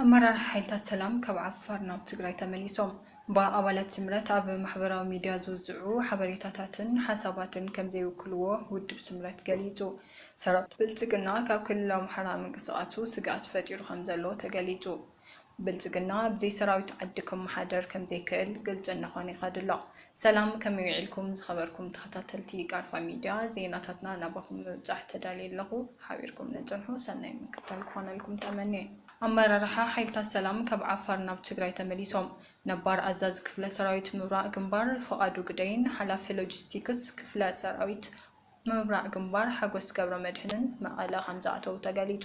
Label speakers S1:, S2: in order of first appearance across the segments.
S1: ኣመራርሓ ሓይልታት ሰላም ካብ ዓፋር ናብ ትግራይ ተመሊሶም ብኣባላት ስምረት ኣብ ማሕበራዊ ሚድያ ዝውዝዑ ሓበሬታታትን ሓሳባትን ከምዘይውክልዎ ውድብ ስምረት ገሊፁ። ሰራዊት ብልፅግና ካብ ክልል ኣምሓራ ምንቅስቓሱ ስግኣት ፈጢሩ ከምዘሎ ተገሊፁ። ብልፅግና ብዘይሰራዊት ዓዲ ክመሓደር ከምዘይክእል ግልፂ እናኾነ ይኸድ'ሎ። ሰላም ከመይ ዊዒልኩም ዝኸበርኩም ተኸታተልቲ ቃርፋ ሚድያ ዜናታትና ናባኹም ንምብፃሕ ተዳልየ ኣለኹ ሓቢርኩም ንፅንሑ ሰናይ ምክትታል ክኾነልኩም ተመንየ። ኣመራርሓ ሓይልታት ሰላም ካብ ዓፋር ናብ ትግራይ ተመሊሶም። ነባር ኣዛዚ ክፍለ ሰራዊት ምብራቕ ግንባር ፍቓዱ ግደይን ሓላፊ ሎጂስቲክስ ክፍለ ሰራዊት ምብራቕ ግንባር ሓጎስ ገብረመድህንን መቐለ ከምዝኣተዉ ተገሊፁ።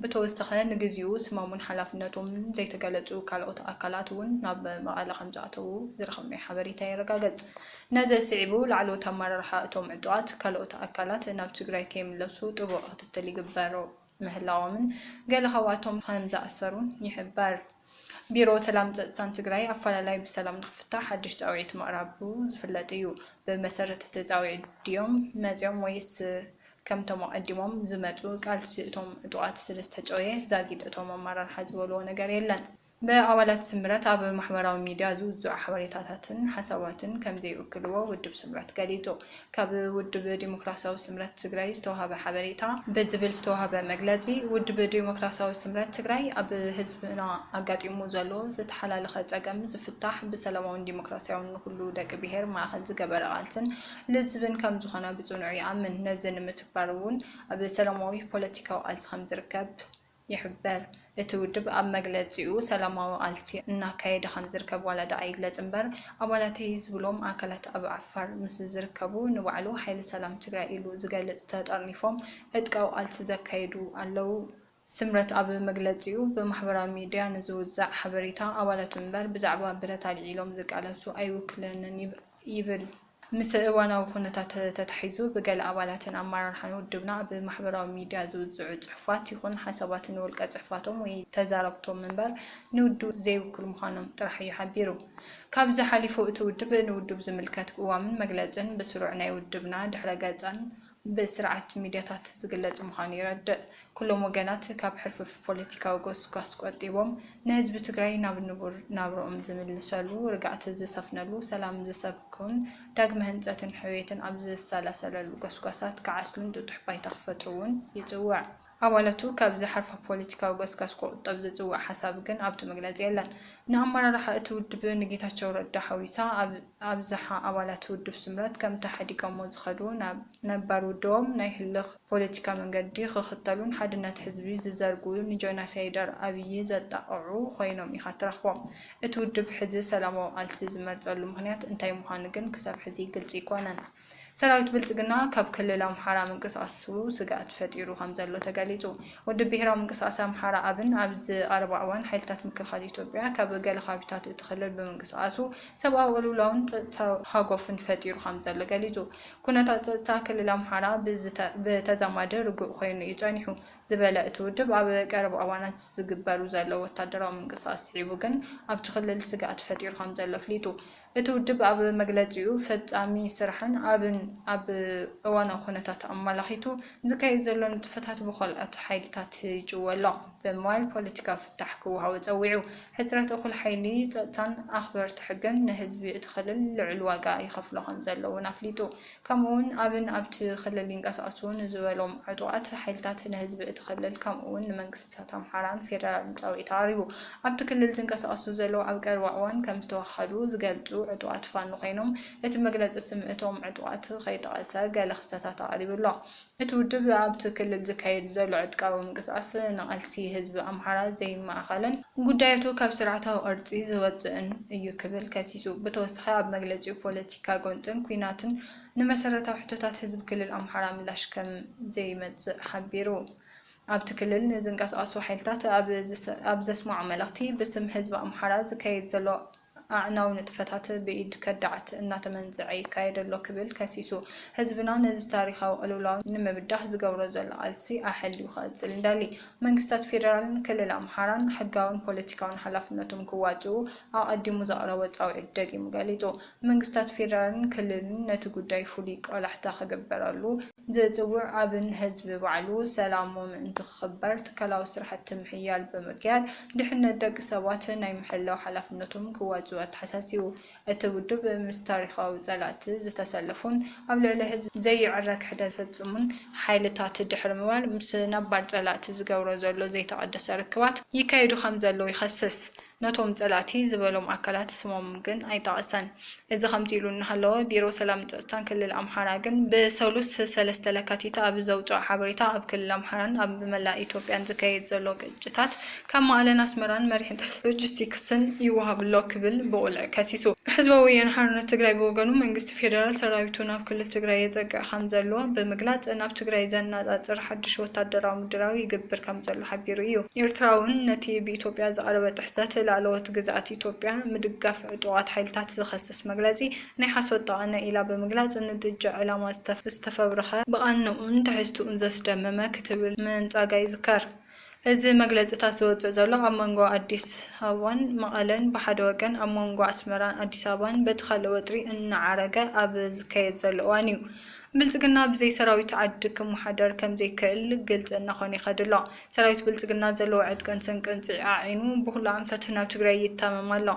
S1: ብተወሰኸ ንግዚኡ ስሞምን ሓላፍነቶምን ዘይተገለፁ ካልኦት ኣካላት እውን ናብ መቐለ ከምዝኣተዉ ዝረኸብናዮ ሓበሬታ የረጋገፅ። ነዚ ስዒቡ ላዕለዎት ኣመራርሓ እቶም ዕጡቓት ካልኦት ኣካላት ናብ ትግራይ ከይምለሱ ጥቡቕ ክትትል ይግበሩ። ምህላዎምን ገለ ካብኣቶም ከም ዝኣሰሩን ይሕበር። ቢሮ ሰላም ፀፅታን ትግራይ ኣፈላላይ ብሰላም ንክፍታሕ ሓዱሽ ፃውዒት ምቕራቡ ዝፍለጥ እዩ። ብመሰረት እቲ ፃውዒት ድዮም መፂኦም ወይስ ከምቶም ኣቐዲሞም ዝመፁ ቃልሲ እቶም ዕጡቓት ስለዝተጨውየ ዛጊድ እቶም ኣመራርሓ ዝበልዎ ነገር የለን። ብኣባላት ስምረት ኣብ ማሕበራዊ ሚድያ ዝውዝዑ ሓበሬታታትን ሓሳባትን ከምዘይውክልዎ ውድብ ስምረት ገሊፁ። ካብ ውድብ ዴሞክራሲያዊ ስምረት ትግራይ ዝተውሃበ ሓበሬታ። ብዝብል ዝተውሃበ መግለፂ፣ ውድብ ዴሞክራሲያዊ ስምረት ትግራይ ኣብ ህዝብና ኣጋጢሙ ዘሎ ዝተሓላለኸ ፀገም ዝፍታሕ ብሰላማውን ዴሞክራሲያውን ንኹሉ ደቂ ብሄር ማእኸል ዝገበረ ቃልሲን ልዝብን ከምዝኾነ ብፅኑዕ ይኣምን። ነዚ ንምትግባር እውን ኣብ ሰላማዊ ፖለቲካዊ ቃልሲ ከምዝርከብ ይሕበር። እቲ ውድብ ኣብ መግለጺኡ፣ ሰላማዊ ቃልሲ እናካየደ ከምዝርከብ ዋላ ድኣ ይግለጽ እምበር፣ ኣባላተይ ዝብሎም ኣካላት ኣብ ዓፋር ምስ ዝርከቡ ንባዕሉ ሓይሊ ሰላም ትግራይ ኢሉ ዝገልጽ ተጠርኒፎም ዕጥቃዊ ቃልሲ ዘካይዱ ኣለዉ። ስምረት ኣብ መግለጺኡ፣ ብማሕበራዊ ሚድያ ንዝውዛዕ ሓበሬታ፣ ኣባላቱ እምበር ብዛዕባ ብረት ኣልዒሎም ዝቃለሱ ኣይውክለንን ይብል። ምስ እዋናዊ ኩነታት ተታሒዙ ብገለ ኣባላትን ኣመራርሓን ውድብና ኣብ ማሕበራዊ ሚድያ ዝውዝዑ ፅሑፋት ይኹን ሓሳባት ንውልቀ ፅሑፋቶም ወይ ተዛረብቶም ምበር ንውድቡ ዘይውክሉ ምዃኖም ጥራሕ እዩ ሓቢሩ። ካብዚ ሓሊፉ እቲ ውድብ ንውድቡ ዝምልከት ቅዋምን መግለፅን ብስሩዕ ናይ ውድብና ድሕረ ገፅን ብስርዓት ሚድያታት ዝግለፅ ምዃኑ ይረድእ። ኩሎም ወገናት ካብ ሕርፍፍ ፖለቲካዊ ጎስጓስ ቆጢቦም ንህዝቢ ትግራይ ናብ ንቡር ናብርኦም ዝምልሰሉ፣ ርግኣት ዝሰፍነሉ፣ ሰላም ዝሰብኩን ዳግመ ህንፀትን ሕውየትን ኣብ ዝሰላሰለሉ ጎስጓሳት ክዓስሉን ጥጡሕ ባይታ ክፈጥሩ እውን ይፅውዕ። ኣባላቱ ካብ ዝሓርፋ ፖለቲካዊ ገስጋስ ክቑጠብ ዝጽውዕ ሓሳብ ግን ኣብቲ መግለጺ የለን። ንኣመራርሓ እቲ ውድብ ንጌታቸው ረዳ ሓዊሳ ኣብ ኣብዝሓ ኣባላት ውድብ ስምረት ከምቲ ሓዲገሞ ዝኸዱ ናብ ነባር ውድቦም ናይ ህልኽ ፖለቲካ መንገዲ ክኽተሉን ሓድነት ህዝቢ ዝዘርጉ ንጆናሳይደር ኣብዪ ዘጣቕዑ ኮይኖም ኢኻ ትረኽቦም። እቲ ውድብ ሕዚ ሰላማዊ ቃልሲ ዝመርጸሉ ምኽንያት እንታይ ምዃኑ ግን ክሳብ ሕዚ ግልጺ ኣይኮነን። ሰራዊት ብልፅግና ካብ ክልል ኣምሓራ ምንቅስቓሱ ስግኣት ፈጢሩ ከምዘሎ ተገሊፁ። ውድብ ብሄራዊ ምንቅስቓስ ኣምሓራ፣ ኣብን፣ ኣብዚ ቀረባ እዋን ሓይልታት ምክልኻል ኢትዮጵያ ካብ ገለ ከባቢታት እቲ ክልል ብምንቅስቓሱ ሰብኣዊ ቅልውላውን ፀጥታዊ ሃጎፍን ፈጢሩ ከምዘሎ ገሊፁ። ኩነታት ፀጥታ ክልል ኣምሓራ ብተዛማዲ ርጉእ ኮይኑ እዩ ፀኒሑ ዝበለ እቲ ውድብ፣ ኣብ ቀረባ እዋናት ዝግበሩ ዘለዉ ወታደራዊ ምንቅስቓስ ስዒቡ ግን ኣብቲ ክልል ስግኣት ፈጢሩ ከምዘሎ ኣፍሊጡ። እቲ ውድብ ኣብ መግለጺኡ፣ ፈጻሚ ስራሕን ኣብን ኣብ እዋናዊ ኩነታት ኣመላኺቱ ዝካየድ ዘሎ ንጥፈታት ብኸልኦት ሓይልታት ይጭወ ኣሎ ብምባል ፖለቲካዊ ፍታሕ ክወሃቦ ጸዊዑ። ሕጽረት እኹል ሓይሊ ጸጥታን ኣኽበርቲ ሕግን ንህዝቢ እቲ ክልል ልዑል ዋጋ ይኸፍሎ ከምዘሎ እውን ኣፍሊጡ። ከምኡ'ውን ኣብን ኣብቲ ክልል ይንቀሳቐሱ ንዝበሎም ዕጡቓት ሓይልታት ንህዝቢ እቲ ክልል ከምኡ'ውን ንመንግስቲታት ኣምሓራን ፌደራልን ጻውዒት ኣቕሪቡ። ኣብቲ ክልል ዝንቀሳቐሱ ዘለዉ ኣብ ቀረባ እዋን ከም ዝተወሃሃዱ ዝገልጹ ዕጡቓት ፋኖ ኮይኖም፣ እቲ መግለጺ ስም እቶም ዕጡቓት ከይጠቐሰ ገለ ክስተታት ኣቕሪቡ'ሎ። እቲ ውድብ ኣብቲ ክልል ዝካየድ ዘሎ ዕጥቃዊ ምንቅስቓስ ንቓልሲ ህዝቢ ኣምሓራ ዘይማእኸልን ጉዳያቱ ካብ ስርዓታዊ ቅርፂ ዝወፅእን እዩ ክብል ከሲሱ። ብተወሳኺ ኣብ መግለፂኡ ፖለቲካ ጎንፅን ኲናትን ንመሰረታዊ ሕቶታት ህዝቢ ክልል ኣምሓራ ምላሽ ከም ዘይመፅእ ሓቢሩ። ኣብቲ ክልል ንዝንቀሳቐሱ ሓይልታት ኣብ ዘስመዖ መልእኽቲ ብስም ህዝቢ ኣምሓራ ዝካየድ ዘሎ ኣዕናዊ ንጥፈታት ብኢድ ከዳዓት እናተመንዘዐ ይካየድ ኣሎ ክብል ከሲሱ። ህዝብና ነዚ ታሪኻዊ ቅልውላው ንምብዳህ ዝገብሮ ዘሎ ቃልሲ ኣሐልዩ ክቕፅል እንደሊ መንግስታት ፌደራልን ክልል ኣምሓራን ሕጋውን ፖለቲካውን ሓላፍነቶም ክዋፅኡ ኣቐዲሙ ዘቕረቦ ፃውዒት ደጊሙ ገሊፁ። መንግስታት ፌደራልን ክልልን ነቲ ጉዳይ ፍሉይ ቆላሕታ ክግበረሉ ዝጽውዕ ኣብ ንህዝቢ ባዕሉ ሰላሙ ምእንቲ ክኽበር ትካላዊ ስራሕቲ ምሕያል ብምክያድ ድሕነት ደቂ ሰባት ናይ ምሕላው ሓላፍነቶም ክዋጽኡ ኣተሓሳሲቡ። እቲ ውድብ ምስ ታሪኻዊ ጸላእቲ ዝተሰለፉን ኣብ ልዕሊ ህዝቢ ዘይዕረ ክሕደት ዝፍጽሙን ሓይልታት ድሕሪ ምባል ምስ ነባር ጸላእቲ ዝገብሮ ዘሎ ዘይተቐደሰ ርክባት ይካየዱ ከምዘለዉ ይኸስስ። ነቶም ፀላእቲ ዝበሎም ኣካላት ስሞም ግን ኣይጠቐሰን። እዚ ከምዚ ኢሉ እናሃለወ ቢሮ ሰላምን ፀፅታን ክልል ኣምሓራ ግን ብሰሉስ ሰለስተ ለካቲት ኣብ ዘውፅኦ ሓበሬታ ኣብ ክልል ኣምሓራን ኣብ መላእ ኢትዮጵያን ዝካየድ ዘሎ ግጭታት ካብ መቐለን ኣስመራን መሪሕነት ሎጂስቲክስን ይወሃብ'ሎ ክብል ብቑልዕ ከሲሱ። ህዝባዊ ወያነ ሓርነት ትግራይ ብወገኑ መንግስቲ ፌደራል ሰራዊቱ ናብ ክልል ትግራይ የፀግዕ ከምዘሎ ብምግላፅ ናብ ትግራይ ዘነፃፅር ሓዱሽ ወታደራዊ ምድላው ይግብር ከምዘሎ ሓቢሩ እዩ። ኤርትራ'ውን ነቲ ብኢትዮጵያ ዝቐረበ ጥሕሰት ላእለዎት ግዝኣት ኢትዮጵያ ምድጋፍ ዕጡቓት ሓይልታት ዝኸስስ መግለጺ ናይ ሓሶት ጠቐነ ኢላ ብምግላጽ ንጥጃ ዕላማ ዝተፈብረኸ፣ ብቓንኡን ትሕዝትኡን ዘስደመመ ክትብል ምንጻጋ ይዝከር። እዚ መግለጺታት ዝወጽእ ዘሎ ኣብ መንጎ ኣዲስ ኣበባን መቐለን ብሓደ ወገን ኣብ መንጎ ኣስመራን ኣዲስ ኣበባን በቲ ካልእ ወጥሪ እናዓረገ ኣብ ዝካየድ ዘሎ እዋን እዩ። ብልፅግና ብዘይ ሰራዊት ዓዲ ክመሓደር ከምዘይክእል ግልፂ እናኾነ ይኸድ ኣሎ። ሰራዊት ብልፅግና ዘለዎ ዕጥቅን ስንቅን ፅዒዓዒኑ ብኹሉ ኣንፈት ናብ ትግራይ ይታመም ኣሎ።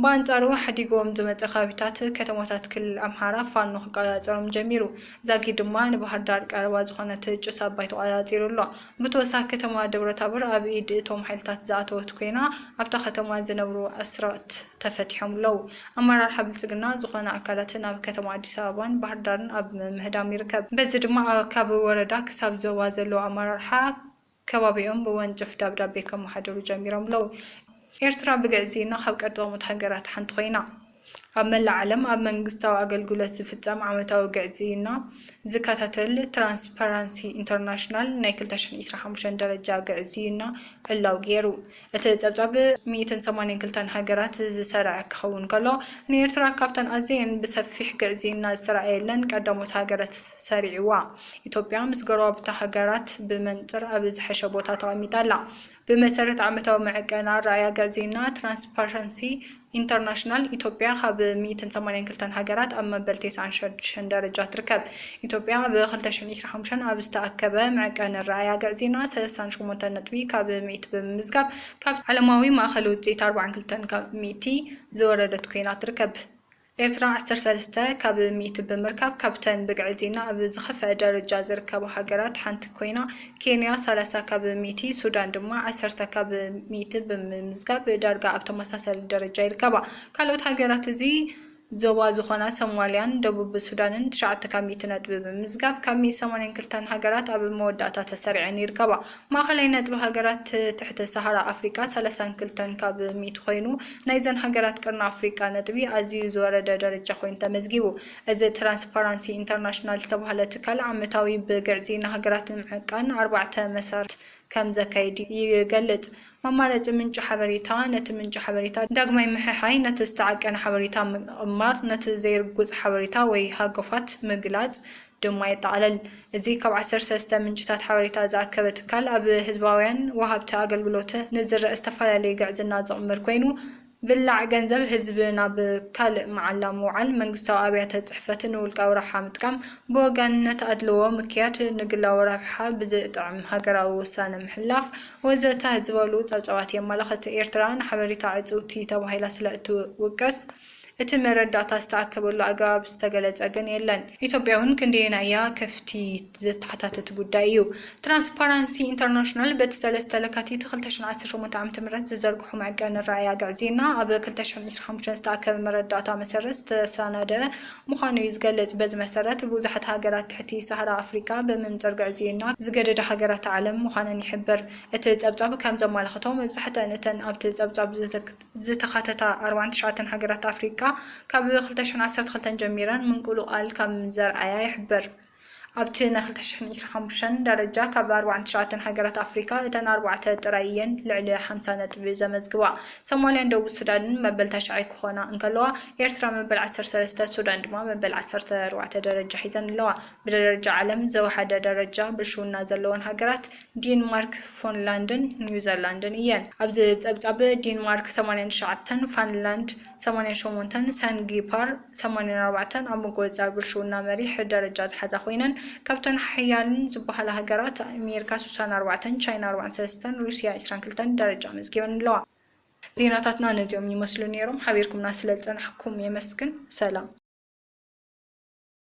S1: ብኣንፃሩ ሓዲጉዎም ዝመፀ ከባቢታት ከተማታት ክልል ኣምሓራ ፋኖ ክቆፃፀሮም ጀሚሩ። ዛጊድ ድማ ንባህርዳር ቀረባ ዝኾነት ጭስ ኣባይ ተቆፃፂሩ ኣሎ። ብተወሳኺ ከተማ ደብረታቦር ኣብ ኢድ እቶም ሓይልታት ዝኣተወት ኮይና ኣብታ ከተማ ዝነብሩ ኣስራት ተፈቲሖም ኣለው። ኣመራርሓ ብልፅግና ዝኾነ ኣካላት ናብ ከተማ ኣዲስ ኣበባን ባህርዳርን ኣብ ምህዳም ይርከብ። በዚ ድማ ካብ ወረዳ ክሳብ ዞባ ዘለው ኣመራርሓ ከባቢኦም ብወንጭፍ ደብዳቤ ከመሓድሩ ጀሚሮም ኣለው። ኤርትራ ብግዕዝይና ካብ ቀዳሞት ሃገራት ሓንቲ ኮይና። ኣብ መላእ ዓለም ኣብ መንግስታዊ ኣገልግሎት ዝፍጸም ዓመታዊ ግዕዝይና ዝከታተል ትራንስፓራንሲ ኢንተርናሽናል ናይ ክልተ ሽሕን ዒስራን ሓሙሽተን ደረጃ ግዕዝይና ዕላው ገይሩ። እቲ ጸብጻብ ሚእትን ሰማንያን ክልተን ሃገራት ዝሰርዐ ክኸውን ከሎ፣ ንኤርትራ ካብተን ኣዘየን ብሰፊሕ ግዕዝይና ዝተራእየለን ቀዳሞት ሃገራት ሰሪዕዋ። ኢትዮጵያ ምስ ጎረባብታ ሃገራት ብመንጽር ኣብ ዝሐሸ ቦታ ተቐሚጣ ኣላ። ብመሰረት ዓመታዊ መዐቀኒ ኣረኣእያ ግዕዝይና ትራንስፓራንሲ ኢንተርናሽናል፣ ኢትዮጵያ ካብ ሚእትን ሰማንያን ክልተን ሃገራት ኣብ መበል ቴስዓን ሸድሽን ደረጃ ትርከብ። ኢትዮጵያ ኣብ ክልተ ሽሕን ዒስራን ሓሙሽተን ኣብ ዝተኣከበ መዕቀኒ ኣረኣእያ ግዕዝይና ሰለሳን ሸሞንተን ነጥቢ ካብ ሚእቲ ብምምዝጋብ ካብቲ ዓለማዊ ማእኸል ውፅኢት ኣርባዓን ክልተን ካብ ሚእቲ ዝወረደት ኮይና ትርከብ። ኤርትራ ዓሰርተ ሰለስተ ካብ ሚእቲ ብምርካብ ካብተን ብግዕዝይና ኣብ ዝኸፍኣ ደረጃ ዝርከባ ሃገራት ሓንቲ ኮይና፣ ኬንያ ሰላሳ ካብ ሚእቲ፣ ሱዳን ድማ ዓሰርተ ካብ ሚእቲ ብምምዝጋብ ዳርጋ ኣብ ተመሳሳሊ ደረጃ ይርከባ። ካልኦት ሃገራት እዚ ዞባ ዝኾና ሶማልያን ደቡብ ሱዳንን ትሽዓተ ካብ ሚእቲ ነጥቢ ብምምዝጋብ ካብ ሚእቲ ሰማንያን ክልተን ሃገራት ኣብ መወዳእታ ተሰሪዐን ይርከባ። ማእኸላይ ነጥቢ ሃገራት ትሕተ ሰሃራ ኣፍሪቃ ሰላሳን ክልተን ካብ ሚእቲ ኮይኑ፣ ናይዘን ሃገራት ቀርኒ ኣፍሪቃ ነጥቢ ኣዝዩ ዝወረደ ደረጃ ኮይኑ ተመዝጊቡ። እዚ ትራንስፓራንሲ ኢንተርናሽናል ዝተባህለ ትካል ዓመታዊ ብግዕዚ ንሃገራት ንምዕቃን ኣርባዕተ መሰርት ከም ዘካይድ ይገልጽ። መማረጺ ምንጪ ሓበሬታ፣ ነቲ ምንጪ ሓበሬታ ዳግማይ ምሕሓይ፣ ነቲ ዝተዓቀነ ሓበሬታ ምቕማር፣ ነቲ ዘይርጉጽ ሓበሬታ ወይ ሃገፋት ምግላጽ ድማ የጠቓልል። እዚ ካብ ዓሰርተ ሰለስተ ምንጭታት ሓበሬታ ዝኣከበ ትካል ኣብ ህዝባውያን ወሃብቲ ኣገልግሎት ንዝረእ ዝተፈላለየ ግዕዝና ዝቕምር ኮይኑ፣ ብላዕ ገንዘብ ህዝቢ ናብ ካልእ መዓላ ምውዓል፣ መንግስታዊ ኣብያተ ጽሕፈት ንውልቃዊ ረብሓ ምጥቃም፣ ብወገንነት ኣድልዎ ምክያድ፣ ንግላዊ ረብሓ ብዝጥዕም ሃገራዊ ውሳነ ምሕላፍ፣ ወዘተ ዝበሉ ጸብጻባት የመላኽት። ኤርትራ ንሓበሬታ ዕጽውቲ ተባሂላ ስለ እትውቀስ፣ እቲ መረዳእታ ዝተኣከበሉ ኣገባብ ዝተገለጸ ግን የለን። ኢትዮጵያ'ውን ክንደየናይ እያ ከፍቲ ዘተሓታትት ጉዳይ እዩ። ትራንስፓራንሲ ኢንተርናሽናል በቲ ሰለስተ ለካቲት ክልተ ሽሕን ዓሰርተ ሸሞንተን ዓመተ ምሕረት ዝዘርግሖ መዐቀኒ ኣረኣእያ ግዕዝይና ኣብ ክልተ ሽሕን ዕስራን ሓሙሽተን ዝተኣከበ መረዳእታ መሰረት ዝተሰናደኣ ምዃኑ እዩ ዝገልጽ። በዚ መሰረት ብዙሓት ሃገራት ትሕቲ ሳህራ ኣፍሪቃ ብመንጽር ግዕዝይና ዝገደዳ ሃገራት ዓለም ምዃነን ይሕብር። እቲ ጸብጻብ ከም ዘማላኽቶ መብዛሕትኣን እተን ኣብቲ ጸብጻብ ዝተኻተታ ኣርባዓን ትሽዓተን ሃገራት ኣፍሪቃ፣ ካብ ክልተ ሽሕን ዓሰርተ ክልተን ጀሚረን ምንቁልቋል ከም ዘርኣያ ይሕበር። ኣብቲ ናይ ክልተ ሽሕን ዕስራን ሓሙሽተን ደረጃ ካብ ኣርብዓን ትሽዓተን ሃገራት ኣፍሪካ እተን ኣርባዕተ ጥራይ እየን ልዕሊ ሓምሳ ነጥቢ ዘመዝግባ። ሶማልያን ደቡብ ሱዳንን መበል ታሽዓይ ክኾና እንከለዋ ኤርትራ መበል ዓሰርተ ሰለስተ ሱዳን ድማ መበል ዓሰርተ ኣርባዕተ ደረጃ ሒዘን ኣለዋ። ብደረጃ ዓለም ዘውሓደ ደረጃ ብልሽውና ዘለወን ሃገራት ዲንማርክ፣ ፎንላንድን ኒውዘላንድን እየን። ኣብዚ ፀብፃብ ዲንማርክ ሰማንያን ትሽዓተን፣ ፋንላንድ፣ ሰማንያን ሸሞንተን፣ ሳንጊፓር፣ ሰማንያን ኣርባዕተን፣ ኣብ ምቁጽጻር ብልሽውና መሪሕ ደረጃ ዝሓዛ ኮይነን፣ ካብተን ሓያልን ዝበሃላ ሃገራት፣ ኣሜሪካ ስሳን ኣርባዕተን፣ ቻይና ኣርባዓን ሰለስተን፣ ሩስያ ዕስራን ክልተን ደረጃ ኣመዝጊበን ኣለዋ። ዜናታትና ነዚኦም ይመስሉ ነይሮም። ሓቢርኩምና ስለዝጸናሕኩም የመስግን። ሰላም።